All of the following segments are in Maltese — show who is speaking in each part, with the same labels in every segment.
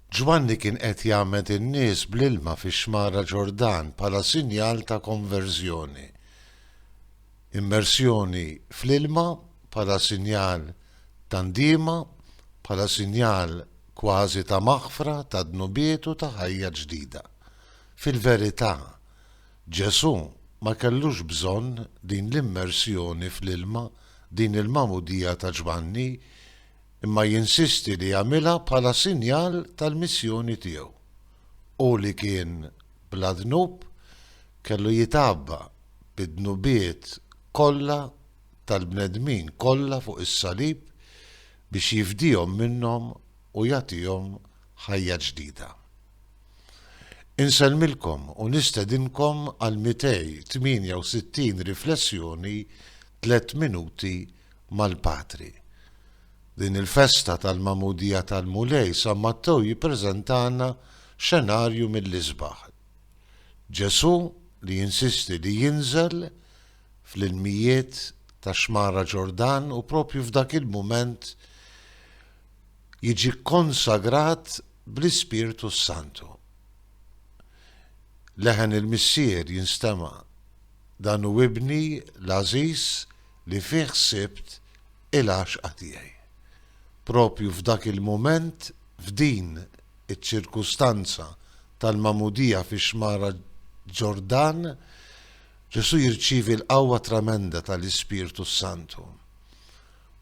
Speaker 1: Ġwanni kien qed jgħammed in-nies bl-ilma fix-Xmara Ġordan bħala sinjal ta' konverżjoni. Immersjoni fl-ilma bħala sinjal ta' ndiema, bħala sinjal kważi ta' maħfra ta' dnubiet u ta' ħajja ġdida. Fil-verità, Ġesù ma kellux bżonn din l-immersjoni fl-ilma, din il-magħmudija ta' Ġwanni imma jinsisti li għamilha bħala sinjal tal-missjoni tiegħu. Hu li kien bla dnub kellu jitgħabba bid-dnubiet kollha tal-bnedmin kollha fuq is-salib biex jifdihom minnhom u jagħtihom ħajja ġdida. Insellmilkom u nistedinkom għall-268 riflessjoni tliet minuti mal-Patri. Din il-festa tal-Magħmudija tal-Mulej San Mattew jippreżentalna xenarju mill-isbaħ. Ġesù li jinsisti li jinżel fl-ilmijiet tax-Xmara Ġordan u proprju f'dak il-mument jiġi kkonsagrat bl-Ispirtu s-Santu. Leħen il-Missier jinstema', Dan hu Ibni l-għażiż li fih sibt il-għaxqa tiegħi. Proprju f'dak il-mument, f'din iċ-ċirkustanza tal-magħmudija fix-xmara Ġordan, Ġesù jirċievi l-qawwa tremenda tal-Ispirtu s-Santu.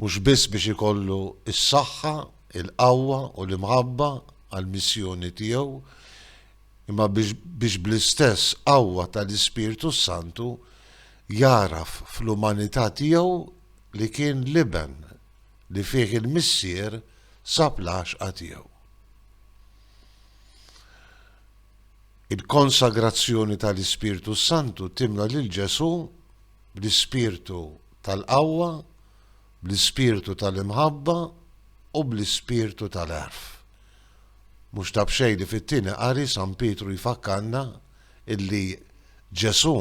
Speaker 1: Mhux biss biex ikollu s-saħħa, il-qawwa u l-imħabba għall-missjoni tiegħu, imma biex bl-istess qawwa tal-Ispirtu s-Santu Jagħraf fl-umanità tiegħu li kien l-Iben li fih il-Missier sab l-għaxqa tiegħu. Il-konsagrazzjoni tal-Ispirtu s-Santu timla lil Ġesù bl-ispirtu tal-qawwa, bl-ispirtu tal-imħabba u bl-ispirtu tal-għerf. Mhux ta' b'xejn li fit-Tieni Qari San Pietru jfakkarna illi Ġesù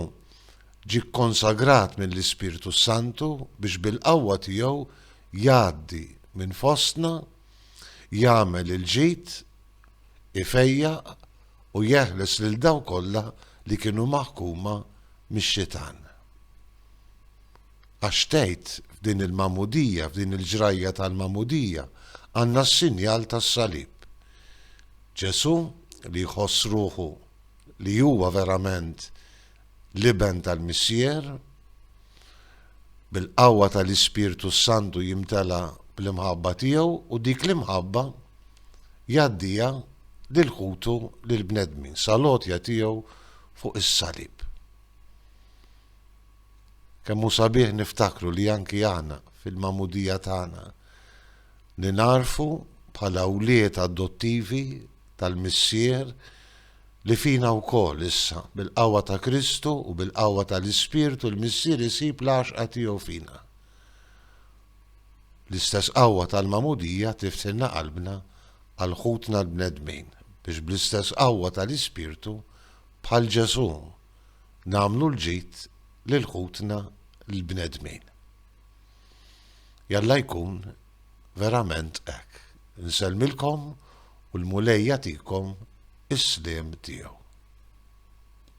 Speaker 1: ġie kkonsagrat mill-Ispirtu s-Santu biex bil-qawwa tiegħu jgħaddi minn fostna, jagħmel il-ġid, ifejjaq u jeħles lil dawk kollha li kienu maħkuma mix-xitan. Għax tgħid f'din il-magħmudija, f'din il-ġrajja tal-magħmudija, għandna s-sinjal tas-salib. Ġesù li jħoss ruħu li huwa verament l-Iben tal-Missier, bil-qawwa tal-Ispirtu s-Santu jimtela bl-imħabba tiegħu u dik l-imħabba jgħaddiha lil ħutu lill-bnedmin sal-għotja tiegħu fuq is-salib. Kemm hu sabiħ niftakru li anki aħna fil-magħmudija tagħna li narfu bħala wlied adottivi tal-Missier li fina wkoll issa, bil-qawwa ta' Kristu u bil-qawwa tal-Ispirtu l-Missier isib l-għaxqa tiegħu fina. L-istess qawwa tal-magħmudija tiftilna qalbna għal ħutna l-bnedmin biex bl-istess qawwa tal-Ispirtu bħal Ġesù nagħmlu l-ġid lil ħutna l-bnedmin. Jalla jkun verament hekk. Insellmilkom u l-Mulej jagħtikom is-sliem tiegħu.